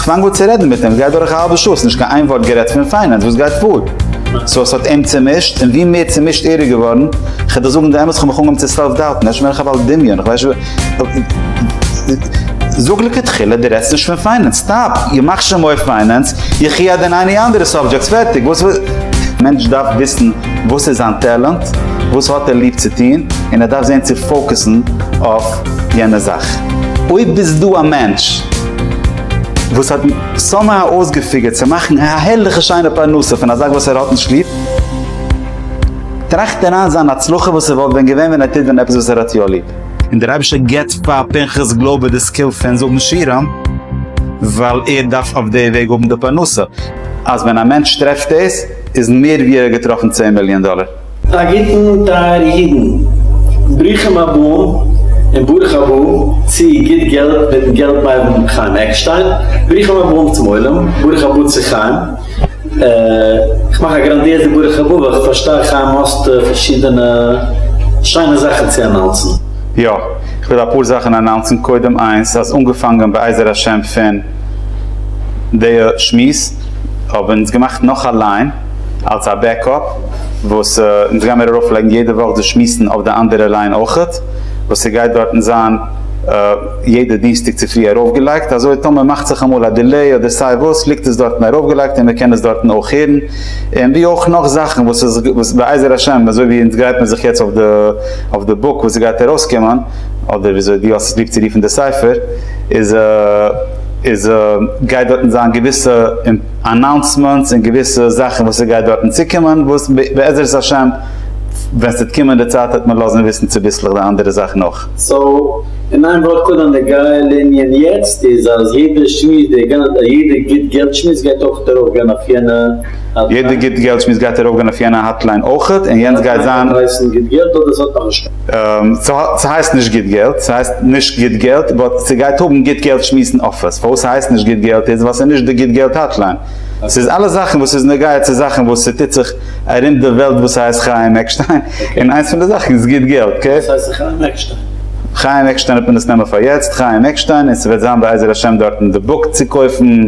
כ'פאנג אן צו רעדן מיט אים, ס'גייט דורך א האלבע שעה, ס'נישט קיין איין ווארט גערעדט פון פיינענס, וואס גייט פאר? סאו ס'האט אים צעמישט, און ווי מער צעמישט ער איז געווארן, כ'וועל דיר זאגן די אמת, כ'האב מיך אנגעהויבן צו סעלף דאוטן, איך בין דערנאך א בעל דמיון, איך ווייס נישט, זאג לכתחילה דו רעדסט נישט פון פיינענס, סטאפ, איר מאכט שוין מורא פיינענס, יחי עד אין עני אנדערע סאבדזשעקטס, פערטיג, וואס וויל, מענטש דארף וויסן וואס איז זיין טעלענט, וואס האט ער ליב צו טון, און ער דארף זען צו פאוקעסן אויף יענע זאך, אויב איז דא א מענטש. וואס האט סאמהאו אויסגעפיגערט צו מאכן א הערליכע שיינע פרנסה פון א זאך וואס ער האט נישט ליב, טראכט אריין זיין הצלחה וואס עס וואלט ווען געווען ווען ער טוט ווען עפעס וואס ער האט יא ליב. און דער אייבישטער געבט פאר פנחס גלויבער די סקיל פון זאגן שירים, ווייל ער דארף אויף די וועג האבן די פרנסה, אז ווען א מענטש טרעפט דאס, איז מער ווי ער האט געטראפן צען מיליאן דאלער. א גוטן טייערע אידן, ברוכים הבאים און ברוך הבא צו גוט געלט מיטן געלט מיידל חיים עקשטיין, ברוכים הבאים צום עולם, ברוך הבא צו חיים, איך מאך א גראנדיעזע ברוך הבא ווייל איך פארשטיי חיים האסט פארשידענע שיינע זאכן צו אנאונסן. יא, איך וויל אפאר זאכן אנאונסן, קודם איינס אז אנגעפאנגען בעזר השם פון דיע שמועס האבן אונז געמאכט נאך א ליין, אלס א בעקאפ וואס אונז גיימיר ארויף לייגן יעדע וואך דאס שמועסן אויף די אנדערע ליין אויכעט וואס ס'גייט דארטן זיין יעדע דינסטאג צופרי ארויפגעלייגט אזוי טאמער מאכט זיך אמאל א דילעי אדער סיי וואס ליגט עס דארטן ארויפגעלייגט און מ'קען עס דארטן אויך הערן און ווי אויך נאך זאכן וואס איז וואס בעזר השם אזוי ווי אונז גרייט מיר זיך יעצט אויף די אויף די בוק וואס ס'גייט ארויסקומען אדער וויאזוי דו האסט עס ליב צו רופן די ספר איז איז גייט דארטן זיין געוויסע. אנאונסמענטס און געוויסע זאכן וואס ס'גייט דארטן צוקומען וואס בעזרת השם ווען ס'וועט קומען די צייט וועט מען לאזן וויסן צוביסלעך די אנדערע זאכן אויך. סאו אין איין ווארט קודם די גייל ענין יעצט איז אז יעדע שמועס די גאנ יעדע גוט געלט שמועס גייט אויכעט ארויף גיין אויף יענע האטליין. יעדע גוט געלט שמועס גייט ארויף גיין אויף יענע האטליין אויכעט און יענץ גייט זיין. ס'הייסט נישט גוט געלט, ס'הייסט נישט גוט געלט באט ס'גייט האבן גוט געלט שמועסן אפיס, פארוואס ס'הייסט נישט גוט געלט איז ווייל ס'איז נישט די גוט געלט האטליין, ס'איז אלעס זאכן וואס איז נוגע צו זאכן וואס ס'טוט זיך ארום די וועלט וואס הייסט חיים עקשטיין, און איינס פון די זאכן איז גוט געלט אקעי. וואס הייסט חיים עקשטיין? חיים עקשטיין האט מען עס נעמען פאר יעצט, חיים עקשטיין, און ס'וועט זיין בעזר השם דארטן די בוק צו קויפן,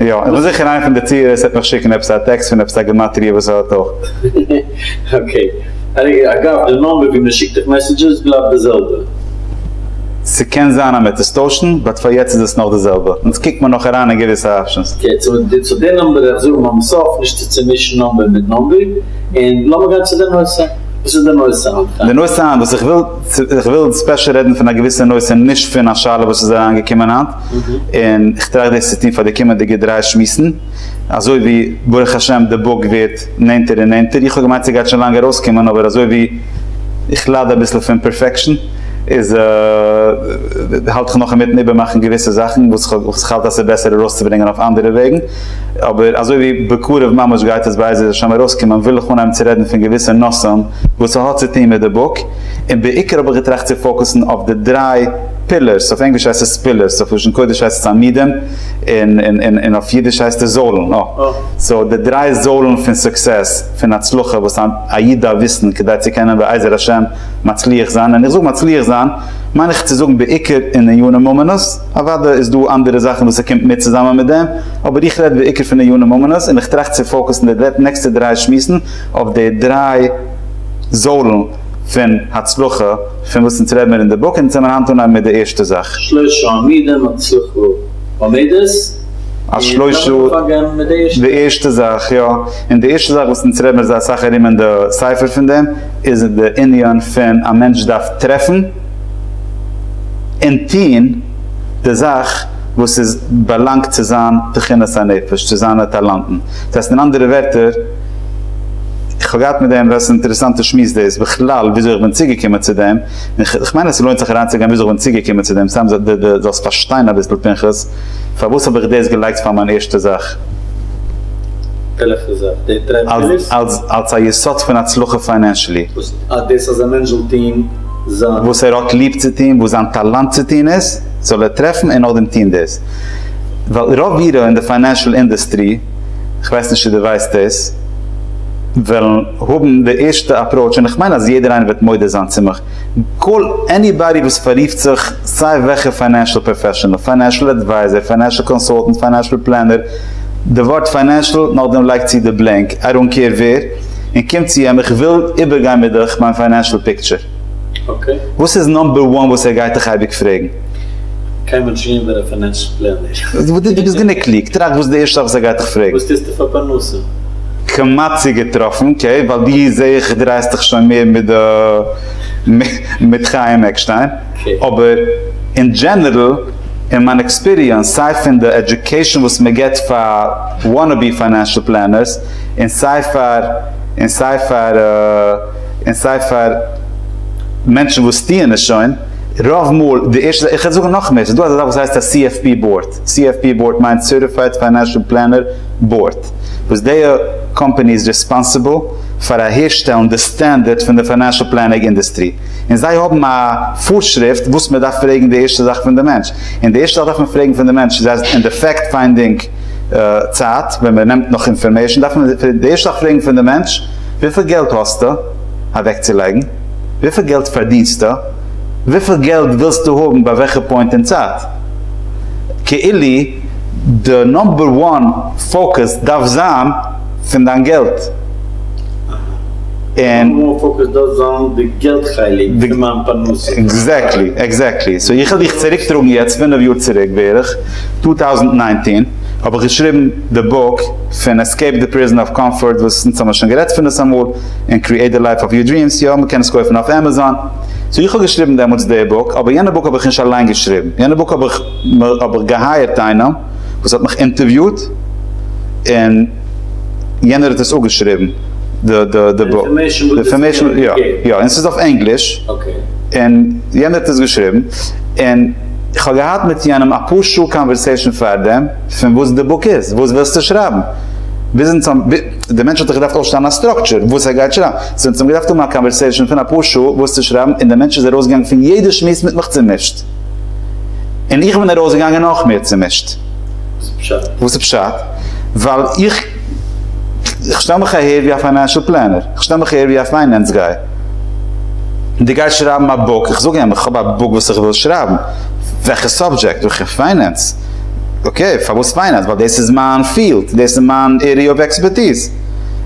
יא, און וואס זיכער איינע פון די צוהערערס העט מיך שיקן עפעס א טעקסט פון עפעס א גמטריא וואס ער האט אויך. אקעי. אגב, די נאמבער ווי מען שיקט דיך מעסעדזשעס בלייבט די זעלבע? ס'קען זיין אז מ'עט עס טוישן, באט פאר יעצט איז עס נאך די זעלבע. אונז קוקט מיר נאך אריין אין געוויסע אפשענס. אקעי, צו די נאמבער וועל איך זאגן ביים סוף, נישט צו צומישן נאמבער מיט נאמבער, און לאמיר גיין צו די נושא. וואס איז די נושא היינט, חיים? די נושא היינט וואס איך וויל, איך וויל ספעשל רעדן פון א געוויסע נושא, נישט פון א שאלה וואס איז אריינגעקומען היינט, און כ'טראכט דאס צו טון פאר די קומענדיגע דריי שמועסן, אזוי ווי ברוך השם די בוק ווערט נענטער און נענטער, איך האב געמיינט ס'גייט שוין לאנג ארויסקומען אבער אזוי ווי איך לייד אביסל פון פערפעקשן איז האלט איך נאך אינמיטן איבערמאכן געוויסע זאכן וואס איך האלט אז ס'איז בעסער ארויסצוברענגען אויף אנדערע וועגן, אבער אזוי ווי בקרוב ממש גייט עס בעזר השם ארויסקומען וויל איך אנהייבן צו רעדן פון געוויסע נושאים וואס ס'האט צו טון מיט די בוק, און בעיקר האב איך געטראכט צו פאוקוסן אויף די דריי. פילערס, אויף ענגליש הייסט עס פילערס, אויף לשון קודש הייסט עס עמודים, און אויף אידיש הייסט עס זוילן, סאו די דריי זוילן פון סוקסעס, פון הצלחה, וואס א איד דארף וויסן כדי צו קענען בעזר השם מצליח זיין, און איך זאג מצליח זיין מיין איך צו זאגן בעיקר אין עיונים ומנות, אוודאי איז דא אנדערע זאכן וואס עס קומט מיט צוזאמען מיט דעם, אבער איך רעד בעיקר פון עיונים ומנות, און איך טראכט צו פאוקעסן די נעקסטע דריי שמועסן אויף די דריי זוילן. פון הצלחה פון וואס אונז רעד מיר אין די בוק, אונז זעמיר היינט אנהייבן מיט די ערשטע זאך. שלשה עמודים האט עס אויך געהאט עמודות, אז שלשה און לאמיר אנהייבן מיט די ערשטע. די ערשטע זאך יא, און די ערשטע זאך וואס אונז רעד מיר זייער אסאך ארום אין די ספר פון דעם, איז די ענין פון א מענטש דארף טרעפן און טוהן די זאך וואס איז באלאנגט צו זיין תכונת הנפש, צו זיינע טאלאנטן, דאס הייסט אין אנדערע ווערטער, איך האב געהאט מיט דעם וועסט אינטערעסאנטע שמועס דאס בכלל וויאזוי איך בין צוגעקומען צו דעם און איך מיין אז ס'לוינט זיך אריינצוגיין וויאזוי איך בין צוגעקומען צו דעם סתם ד ד זאלסט פארשטיין אביסל פנחס פארוואס האב איך דאס געלייגט פאר מיין ערשטע זאך וועלכע זאך? די טרעדמילערס? אלס אלס א יסוד פון הצלחה פיינענשעלי. וואס אז דאס אז א מענטש זאל טון זיין. וואס ער האט ליב צו טון וואס זיין טאלאנט צו טון איז זאל ער טרעפן און נאכדעם טון דאס ווייל רוב אירע אין די פיינענשעל אינדעסטרי. איך ווייס נישט צו דו ווייסט דאס, וועלן האבן די ערשטע אפראוטש, און איך מיין אז יעדער איינער וועט מודה זיין צו מיך, קאל עניבאדי וואס פאררופט זיך סיי וועלכע פיינענשל פראפעשענעל, פיינענשל אדווייזער, פיינענשל קאנסאלטענט, פיינענשל פלענער, די ווארט פיינענשל, נאכדעם לייג צו די בלענק, איי דאנט קעיר ווער, און קום צו אים, איך וויל איבערגיין מיט דיך מיין פיינענשל פיקטשער. וואס איז נאמבער וואן וואס ער גייט דיך אייביג פרעגן? קען מען דזשין ווען ער פינענסט פלענער? דו ביסט גענוג קלוג, טראכט וואס די ערשטע זאך וואס ער גייט דיך פרעגן. וואס טוסטו פאר פרנסה? כמעט צוגעטראפן, אקעי, ווייל דו זעה איך דרייסט דיך שוין מער מיט די מיט חיים עקשטיין, אבער אין דזשענערל אין מיין עקספיריענס סיי פון די עדיוקעישאן וואס מען גיבט פאר וואנעבי פיינענשעל פלענערס און סיי פאר און סיי פאר. און סיי פאר מענטשן וואס טוען עס שוין, רוב מאל די ערשטע זאך, איך וועל זאגן נאך מער, ס'איז דא אזא זאך וואס הייסט א CFP באורד, CFP באורד מיינט סערטיפייד פיינענשאל פלענער באורד, וואס דיע קאמפאני איז רעספאנסיבל פאר אהערשטעלן די סטענדערט פון די פיינענשאל פלענינג אינדוסטרי, און זיי האבן א פארשריפט וואס מען דארף פרעגן די ערשטע זאך פון די מענטש, און די ערשטע זאך דארף מען פרעגן פון די מענטש איז אז אין די פעקט פיינדינג צייט ווען מען נעמט נאך אינפארמעישן דארף מען די ערשטע זאך פרעגן פון די מענטש, וויפיל געלט האסטו אוועקצולייגן? וויפיל געלט פארדינסטו? וויפיל געלט ווילסטו האבן ביי וועלכע פוינט אין צייט? כאילו די נאמבער וואן פאוקעס דארף זיין פון דיין געלט און. נאמבער וואן פאוקעס דארף זיין די געלט חלק פון מיין פרנסה. עקזעקטלי, עקזעקטלי. סאו איך וועל דיך צוריקטראגן יעצט פינף יאר צוריק בערך, צוויי טויזנט נײַנצן האב איך געשריבן. די בוק פון עסקעיפ די פריזאן אוו קאמפארט וואס אונז האמיר שוין גערעדט פון דאס אמאל, און קריעיט די לייף אוו יור דריעמס, יא מען קען עס קויפן אויף עמעזאן, סאו איך האב געשריבן דעמאלטס די בוק, אבער יענע בוק האב איך נישט אליין געשריבן, יענע בוק האב איך האב איך געהייערט איינעם וואס האט מיך אינטערוויוט און יענער האט עס אפגעשריבן די די די בוק, די אינפארמעישן, יא יא, און ס'איז אויף ענגליש, און יענער האט עס געשריבן, און איך האב געהאט מיט יענעם אפאר שעה קאנווערסעישן פארדעם. פון וואס די בוק איז, וואס ווילסטו שרייבן? ביזן צום, די מענטש האט דאך געדארפט אויסשטעלן א סטראקטשער וואס ער גייט שרייבן, זיי האבן צוזאם געדארפט האבן א קאנווערסעישאן פון אפאר שעה וואס צו שרייבן, און דער מענטש איז ארויסגעגאנגען פון יעדע שמועס מיט מיך צומישט, און איך בין ארויסגעגאנגען נאך מער צומישט. וואס איז פשט? ווייל איך איך שטעל מיך אהער ווי א פיינענשעל פלענער, איך שטעל מיך אהער ווי א פיינענס גיי, דו גייסט שרייבן א בוק, איך זאג אים איך האב א בוק וואס איך וויל שרייבן, וועלכע סאבדזשעקט? וועלכע פיינענס? אקעי, פארוואס פיינענס? ווייל דאס איז מיין פיעלד, דאס איז מיין עריע אוו עקספערטיז.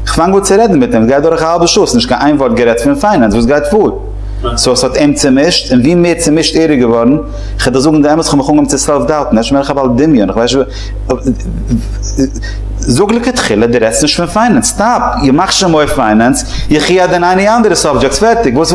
איך פאנג אן צו רעדן מיט אים, עס גייט דורך א האלבע שעה, עס איז נישט קיין איין ווארט גערעדט פון פיינענס, וואס גייט פאר? סאו עס האט אים צומישט, און ווי מער צומישט ער איז געווארן, איך וועל דיר זאגן די אמת, איך האב מיך אנגעהויבן צו סעלף דאוטן, אפשר בין איך א בעל דמיון, איך ווייס נישט וואס, זאג לכתחילה דו רעדסט נישט פון פיינענס, סטאפ, איך מאך שוין מורא פיינענס, יחי הדין עני אנדערע סאבדזשעקטס, פערטיג, וואס.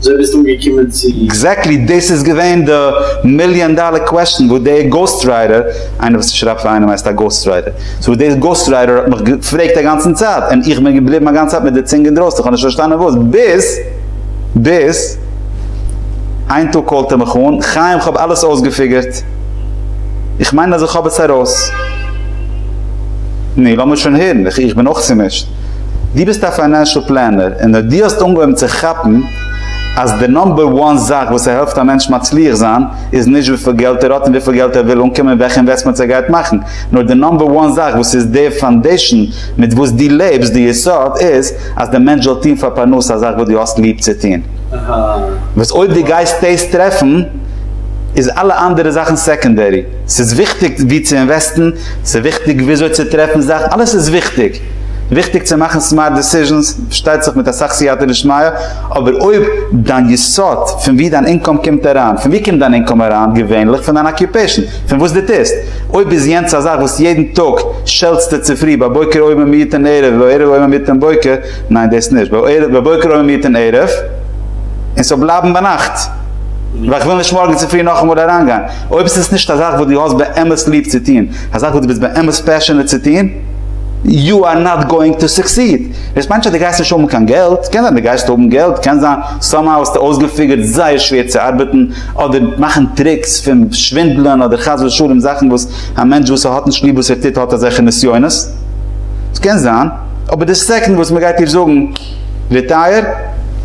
אזוי ביסט אנגעקומען צו. עקזעקטלי דאס איז געווען די מיליאן דאלער קוועסטשן וואס דער גאוסט רייטער, איינער וואס שרייבט פאר איינעם הייסט א גאוסט רייטער, סאו וואס דער גאוסט רייטער האט מיך געפרעגט א גאנצן צייט, און איך בין געבליבן א גאנצע צייט מיט די צונג אינדרויסן איך האב נישט פארשטאנען וואס, ביז ביז איין טאג קאלט ער מיך אן, חיים כ'האב אלעס אויסגעפיגערט, איך מיין אז איך האב עס ארויס. נו לאמיר שוין הערן, איך בין אויך צומישט. דו ביסט א פיינענשעל פלענער און אויב דו האסט אנגעהויבן צו כאפן אז די נאמבער וואן זאך וואס עס העלפט א מענטש מצליח זיין איז נישט וויפיל געלט ער האט און וויפיל געלט ער וויל אנקומען און וועלכע אינוועסטמענטס ער גייט מאכן נאר די נאמבער וואן זאך וואס איז די פאנדעישאן מיט וואס דו לעבסט די יסוד איז אז די מענטש זאל טון פאר פרנסה א זאך וואס דו האסט ליב צו טון וואס אויב דו גייסט דאס טרעפן איז אלע אנדערע זאכן סעקאנדערי ס'איז וויכטיג וואו צו אינוועסטן ס'איז וויכטיג וויאזוי צו טרעפן זאכן אלעס איז וויכטיג. וויכטיג צו מאכן סמארט דעסיזשענס, פארשטייט זיך מיט אסאך סייעתא דשמיא, אבער אויב דיין יסוד פון ווי דיין אינקאם קומט אריין, פון ווי קומט דיין אינקאם אריין? געווענליך פון דיין אקיופעישן, פון וואס דו טוסט. אויב איז יענץ א זאך וואס יעדן טאג שעלטסטו צופרי בבוקר עוים ומיעוטין ערב ובערב עוים ומיעוטין בוקר, ניין דאס נישט, בבוקר עוים ומיעוטין ערב, און ס'זאל בלייבן ביינאכט, ווייל איך וויל נישט מארגן צופרי נאכאמאל אריינגיין. אויב איז עס נישט א זאך וואס דו האסט באמת ליב צו טון, א זאך וואס דו ביסט באמת פעשענעט צו טון, יו אר נאט גאוינג טו סוקסיד. דאס מיינט נישט אז דו גייסט נישט האבן קיין געלט, קען זיין דו גייסט האבן געלט, קען זיין סאמהאו האסטו אויסגעפיגערט זייער שווער צו ארבעטן אדער מאכן טריקס פון שווינדלען אדער חס ושלום זאכן וואס א מענטש וואס האט נישט ליב וואס ער טוט האט אזעלכע נסיונות, ס'קען זיין, אבער די סעקאנד וואס מ'גייט דיר זאגן ריטייער,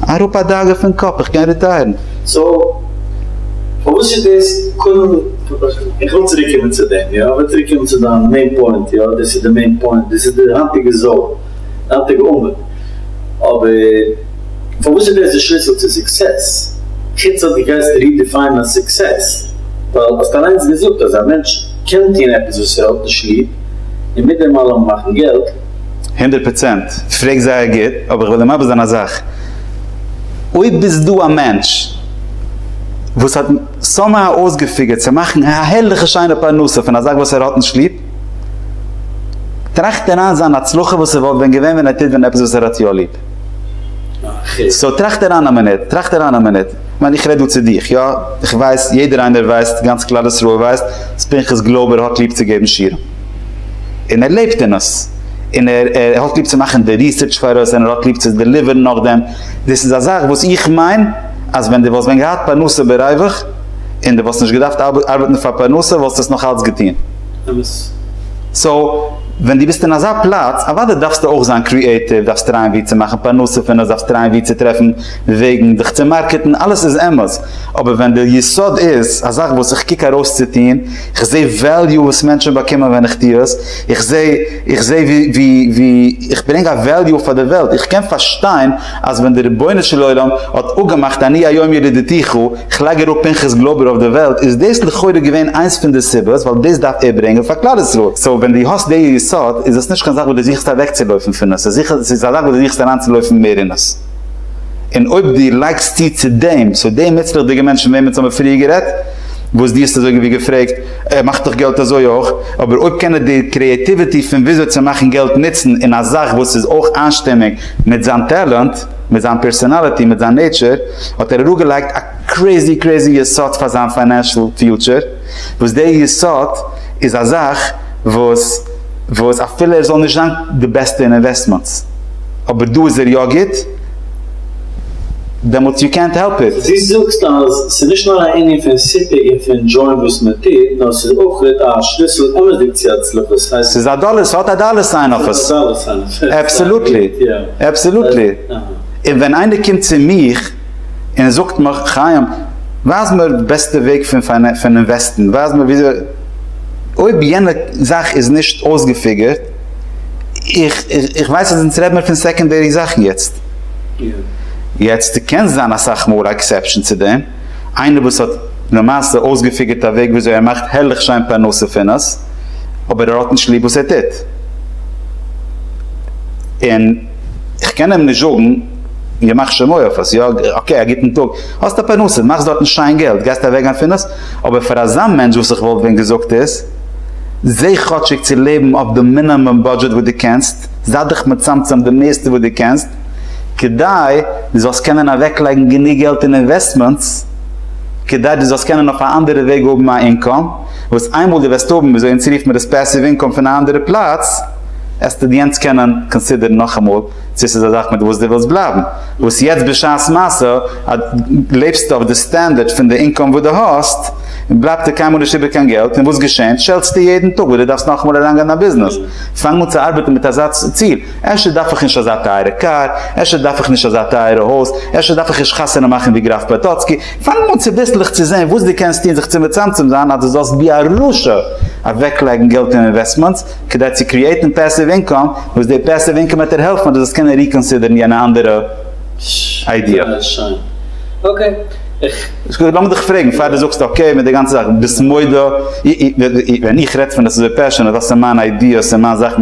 אראפ א דאגה פון קאפ, איך קען ריטייערן. סאו פארוואס איז דאס קודם. איך וויל צוריק קומען צו דעם, יא, איך וויל צוריק קומען צו דיין מעין פוינט, יא, דאס איז די מעין פוינט, דאס איז די היינטיגע זאל, די היינטיגע עמוד, אבער פארוואס איז דאס די שליסל צו סוקסעס? חוץ אז דו גייסט רידיפיינען סוקסעס, ווייל האסט אליינס געזאגט אז א מענטש קען טון עפעס וואס ער האט נישט ליב און מיט דעם אלעם מאכן געלט. הונדערט פראצענט, פרעגסט זייער גוט, אבער איך וועל דיר מסביר זיין א זאך, אויב איז דא א מענטש וואס האט. סאמהאו אויסגעפיגערט צו מאכן א הערליכע שיינע פרנסה פון א זאך וואס ער האט נישט ליב, טראכט ער איין זיין הצלחה וואס עס וואלט ווען געווען ווען ער טוט ווען עפעס וואס ער האט יא ליב. סאו טראכט ער איין א מינוט, טראכט ער איין א מינוט, כ'מיין איך רעד דא צו דיך, יא, איך ווייס, יעדער איינער ווייסט, גאנץ כלל ישראל ווייסט, אז פנחס גלויבער האט ליב צו געבן שיעורים, און ער לעבט אין עס, און ער האט ליב צו מאכן די ריסערטש פאראויס, און ער האט ליב צו דעליווערן נאכדעם, דאס איז א זאך וואס איך מיין. אז ווען דו וואלסט ווען געהאט פרנסה ברובך, און דו וואלסט נישט געדארפט ארבעטן פאר פרנסה, וואלסטו עס נאך אלץ געטון. אמת. סאו, ווען דו ביסט אין אזא פלאץ, אוודאי דארפסטו אויך זיין קריעטיוו, דארפסט טרייען ווי צו מאכן פרנסה פון עס, דארפסט טרייען ווי צו טרעפן וועגן דיך צו מארקעטן, אלעס איז אמת. אבער ווען די יסוד איז, א זאך וואס איך קוק ארויס צו טון, איך זעה וועליו וואס מענטשן באקומען ווען איך טו עס, איך זעה איך זעה ווי ווי איך ברענג א וועליו פאר די וועלט, איך קען פארשטיין אז ווען דער רבונו של עולם האט אפגעמאכט אני היום ילידתיך, איך לייג אראפ פנחס גלאבער אויף די וועלט, איז דאס לכאורה געווען איינס פון די סיבות ווייל דאס דארף ער ברענגען פאר כלל ישראל, סאו ווען דו האסט די יסוד איז עס נישט קיין זאך וואס דו זוכסט אוועקצולויפן פון עס, עס איז א זאך וואס דו זוכסט אריינצולויפן מער אין עס, און אויב דו לייגסט צו צו דעם, סאו די מוצלח'דיגע מענטש פון וועמען אונז האבן פריער גערעדט, וואס דו האסט אזויגעווי געפרעגט, ער מאכט דאך געלט אזוי אויך, אבער אויב קען ער די קריעטיוויטי פון וויאזוי צו מאכן געלט נוצן אין א זאך וואס איז אויך איינשטימיג, מיט זיין טעלענט, מיט זיין פערסאנאליטי, מיט זיין נעיטשער, האט ער אראפגעלייגט א קרעיזי קרעיזי יסוד פאר זיין פיינענשעל פיוטשער, וואס די יסוד איז א זאך וואס וואס אפילו ער זאל נישט זיין די בעסטע אין אינוועסטמענטס, אבער דא איז ער יא גוט, דעמאלטס יו קענט העלפ איט. דו זאגסט אז ס'איז נישט נאר א ענין פון סיפוק און פון דזשויען וואס מען טוט, נאר ס'איז אויך א שליסל אמת'דיג צו הצלחה, ס'הייסט. ס'איז א דאלער, ס'האט א דאלער סיין אויף עס. אבסעלוטלי, אבסעלוטלי. און ווען איינער קומט צו מיך און זאגט מיך, חיים, ווייז מיר די בעסטע וועג פון פון אינוועסטן, ווייז מיר וויאזוי, אויב יענע זאך איז נישט אויסגעפיגערט, איך איך ווייס אז אונז רעד מיר פון סעקאנדערי זאכן יעצט. יעצט קען זיין אסאך מאל א עקסעפשאן צו דעם. איינער וואס האט למעשה אויסגעפיגערט א וועג וויאזוי ער מאכט הערליך שיין פרנסה פון עס, אבער ער האט נישט ליב וואס ער טוט, און איך קען אים נישט זאגן, ימח שמו אויף עס, יא אקעי א גוטן טאג, האסט א פרנסה, מאכסט דארטן שיין געלט, גייסט אוועקגיין פון עס, אבער פאר אזא מענטש וואס איך וואלט ווען געזאגט איז, זע כאטשיג צו לעבן אויף די מינאמום בודזשעט וואס דו קענסט, זיי דיך מצמצם די מערסטע וואס דו קענסט, כדי דו זאלסט קענען אוועקלייגן גענוג געלט אין אינוועסטמענטס כדי דו זאלסט קענען אויף א אנדערע וועג האבן א אינקאם וואס איינמאל דו וועסט האבן וויאזוי אונז רופן מיר עס פעסיוו אינקאם פון א אנדערע פלאץ עסטו דיענס קענען קאנסידערן נאכאמאל צו עס איז א זאך מיט וואס דו ווילסט בלייבן וואס יעצט בשעת מעשה אז לעבסטו אויף די סטענדערט פון די אינקאם וואס דו האסט בלייבט דיר קיינמאל נישט איבער קיין געלט און וואס געשענט שעלטסטו יעדן טאג וואס דו דארפסט נאכאמאל אריינגיין אין א ביזנעס פאנג אן צו ארבעטן מיט אזא ציל אפשר דארף איך נישט אזא טייערע קאר, אפשר דארף איך נישט אזא טייערע הויז, אפשר דארף איך נישט חתונה מאכן ווי גראף פאטאצקי, פאנג אן צוביסלעך צו זען וואס דו קענסט טון זיך צו מצמצם זיין אז דו זאלסט ווי א רשע אוועקלייגן געלט אין אינוועסטמענטס כדי צו קריעטן פעסיוו אינקאם, וואס די פעסיוו אינקאם וועט דיר העלפן אז דו זאלסט קענען ריקאנסידערן יענע אנדערע איידיע. לאמיר דיך פרעגן פאר דו זאגסט אקעי מיט די גאנצע זאך, ביסט מודה ווען איך רעד פון עס אזוי פעשענעט, וואס איז מיין איידיעס און מיין זאכן,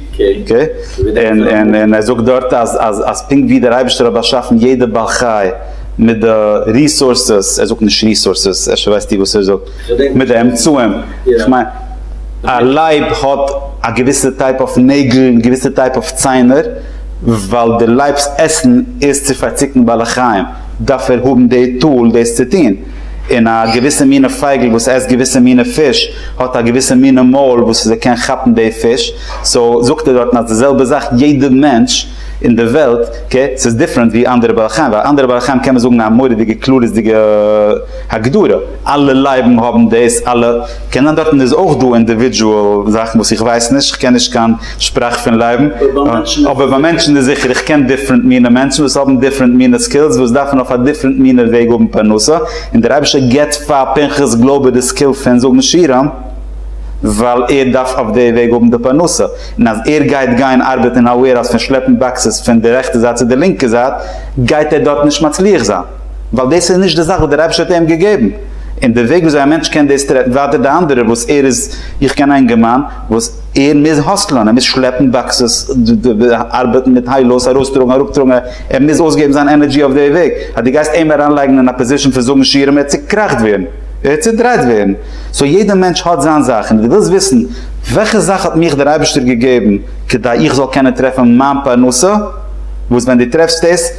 און ער זאגט דארט אז פונקט ווי דער אייבערשטער האט באשאפן יעדע בעל חי מיט די ריסארסעס, ער זאגט נישט ריסארסעס, אפשר ווייסט איר וואס ער זאגט, מיט די אמצעים, כ'מיין א לייב האט א געוויסע טייפ אויף נעגל און געוויסע טייפ אויף ציינער, ווייל די לייב'ס עסן איז צו פארציקן בעלי חיים, דארף ער האבן די טול דאס צו טון. און א געוויסע מינע פייגל וואס עסט געוויסע מינע פיש האט א געוויסע מינע מויל וואס זי קען כאפן די פיש, סאו זאגט ער דארטן אז די זעלבע זאך יעדע מענטש אין די וועלט קע ס'איז דיפרענט ווי אנדערע בעלי חיים ווייל אנדערע בעלי חיים קען מען זאגן א מורא'דיגע כללית'דיגע הגדרה אלע לייבן האבן דאס אלע קען זיין דארטן איז אויך דא אינדיווידזשועל זאכן וואס איך ווייס נישט כ'קען נישט קיין שפראך פון לעבן, אבער ביי מענטשן איז זיכער, איך קען דיפרענט מינע מענטשן וואס האבן דיפרענט מינע סקילס וואס דארפן אויף א דיפרענט מינע וועג האבן פרנסה, און דער אייבישטער געבט פאר פנחס גלויבער די סקיל פון זאגן שירה, ווייל ער דארף אויף די וועג האבן די פרנסה, און אז ער גייט גיין ארבעטן אין א וועירהאוז פון שלעפן באקסעס פון די רעכטע זייט צו די לינקע זייט, גייט ער דארט נישט מצליח זיין, ווייל דאס איז נישט די זאך וואס דער אייבישטער האט איהם געגעבן, און די וועג וויאזוי א מענטש קען דאס טרעפן ווייטער די אנדערע וואס ער איז, איך קען א אינגערמאן וואס. ער מוז האסלען, ער מוז שלעפן באקסעס, ארבעטן מיט היי לאוס, ארויסטראגן אראפטראגן, ער מוז אויסגעבן זיין ענערדזשי אויף די וועג, אז דו גייסט אים אריינלייגן אין א פאזישן פון זאגן שירים ער וועט צוקראכט ווערן, ער וועט צודרייט ווערן, סאו יעדע מענטש האט זיין זאך, און אז דו ווילסט וויסן וועלכע זאך האט מיך דער אייבערשטער געגעבן כדי איך זאל קענען טרעפן מיין פרנסה, וואס ווען דו טרעפסט עס,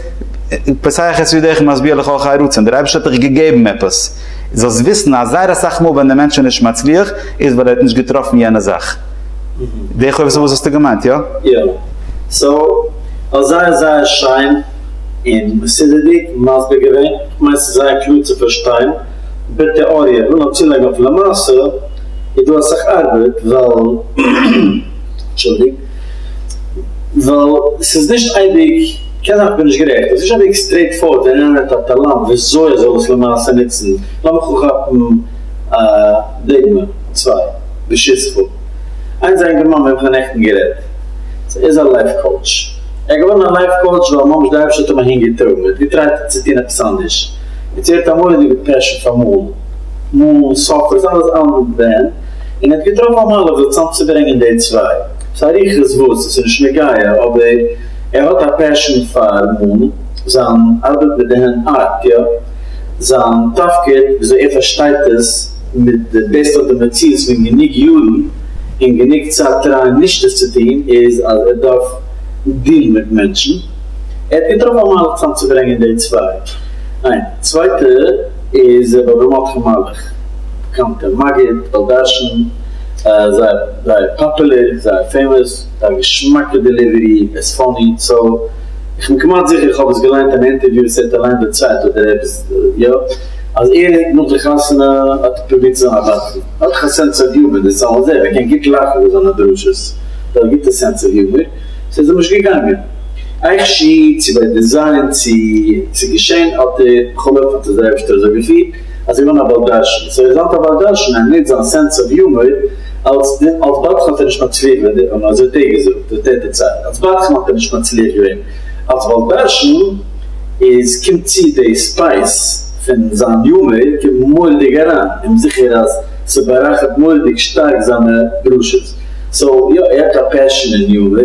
פסח את ידיך משביע לך חיי רצון, דער אייבערשטער האט דיך געגעבן עפעס. זאלסט וויסן אז זייער אסאך מאל ווען דער מענטש איז נישט מצליח איז ווייל ער האט נישט געטראפן יענע זאך. די חובת הלבבות האסטו געמיינט, איא? יא. סאו, זייער זייער שיין און מסודר'דיג מסביר געווען. כ'מיין ס'איז זייער קלאר צו פארשטיין. בתיאוריה, כ'וויל נאר צולייגן אויף למעשה איז דא אסאך ארבעט ווייל, אנטשולדיגט, ווייל ס'איז נישט אייביג, קען זיין איך בין נישט גערעכט, אבער ס'איז נישט אוועק סטרעיט פארווארד ווען איינער האט א טאלאנט וויאזוי ער זאל עס למעשה נוצן, לאמיך אנכאפן א דוגמא צוויי, ברשותך. איינס א יונגערמאן מיט וועם כ'האב נעכטן גערעדט, ער איז א לייף קאוטש, ער איז געווארן א לייף קאוטש ווייל ממש די אייבערשטער האט אים אהין געטראגן, ער האט געטרייט צו טון עפעס אנדערש, יעצט ער האט א מורא'דיגע פעשן פאר מאלן, מאלן, ספר, סתם עפעס אנדערש, און ער האט געטראפן א מהלך זיך צוזאם צו ברענגען די צוויי, ס'איז אריכות וואס, ס'איז נישט נוגע, אבער. ער האט א פעשאן פאר מאלן, זיין ארבעט מיט די הענט ארט, יא, זיין תפקיד וויאזוי ער פארשטייט עס מיט די בעסט אויף די מציאות פון גענוג יארן און גענוג צייט טרייען נישט עס צו טון איז אז ער דארף דינען מיט מענטשן, ער האט געטראפן א מהלך צאמצוברענגען די צוויי, איין צווייטע איז רבי אברהם מרדכי מלאך, באקאנטער מגיד, בעל דרשן, זייער זייער פאפולער, זייער פעימאס. מיט א געשמאקע דעליווערי, ער איז פאני, סא איך בין כמעט זיכער איך האב עס געליינט אין א אינטערוויו וואס ער האט אליין דערציילט אדער עפעס יא, אז ער האט נאך די חתונה האט ער פרובירט צו זיין א בטלן, ער האט דאך א סענס אוו יומער, דער סאן איז ער, ער קען גוט לאכן פון זיינע דרשות, ער האט א גוטע סענס אוו יומער, סא איז ער נישט געגאנגען. עכ ש צו ביי די זיין צו צו געשען האט ער בכל אופן האט עס דער אייבערשטער אזוי געפירט אז ער איז געווארן א בעל דרשן, סא ער איז היינט א בעל דרשן, ער נוצט זיין סענס אוו יומער, אלס בדחן האט ער נישט מצליח ווען די, און אזוי האט ער געזאגט, אזוי האט ער דערציילט, אלס בדחן האט ער נישט מצליח געווען, אלס בעל דרשן איז קומט צו די ספייס פון זיין יומער קומט מורא'דיג אריין, און זיכער אז ס'בארייכערט מורא'דיג שטארק זיינע דרשות, סאו יא ער האט א פעשן אין יומער.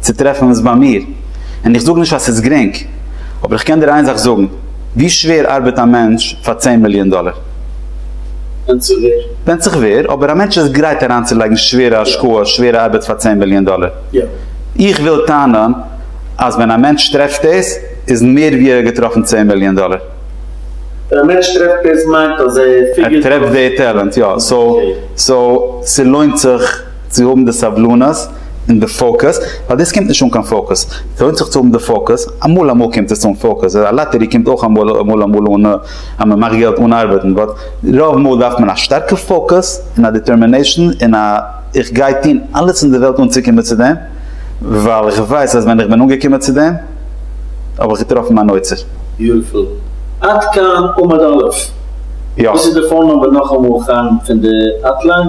צו טרעפן וואס ביי מיר, און איך זאג נישט אז ס'איז גרינג, אבער איך קען דיר איין זאך זאגן, ווי שווער ארבעט א מענטש פאר צען מיליאן דאלער? ווענדט זיך ווער. ווענדט זיך ווער, אבער א מענטש איז גרייט אריינצולייגן שווערע השקעה, שווערע ארבעט פאר צען מיליאן דאלער. איך וויל טענה'ן אז ווען א מענטש טרעפט דאס, איז מער ווי ער האט געטראפן צען מיליאן דאלער. ווען א מענטש טרעפט דאס מיינט אז ער פיגערט אויס. ער טרעפט די טעלענט, יא. סאו, ס'לוינט זיך. צו האבן די סבלנות און די פאוקעס, ווייל דאס קומט נישט אן קיין פאוקעס, ס'לוינט זיך צו האבן די פאוקעס, אמאל אמאל קומט עס אן פאוקעס, א לאטערי קומט אויך אמאל אמאל אמאל אן אז מען מאכט געלט אן ארבעטן, באט רוב מאל דארף מען א שטארקע פאוקעס און א דיטערמינעישאן און א איך גיי טון אלעס אין די וועלט אנצוקומען צו דעם, ווייל איך ווייס אז ווען איך בין אנגעקומען צו דעם האב איך געטראפן מיין אוצר. ביוטיפול. עד כאן עמוד א'. וואס איז די פאון נומבער נאכאמאל חיים פון די האטליין?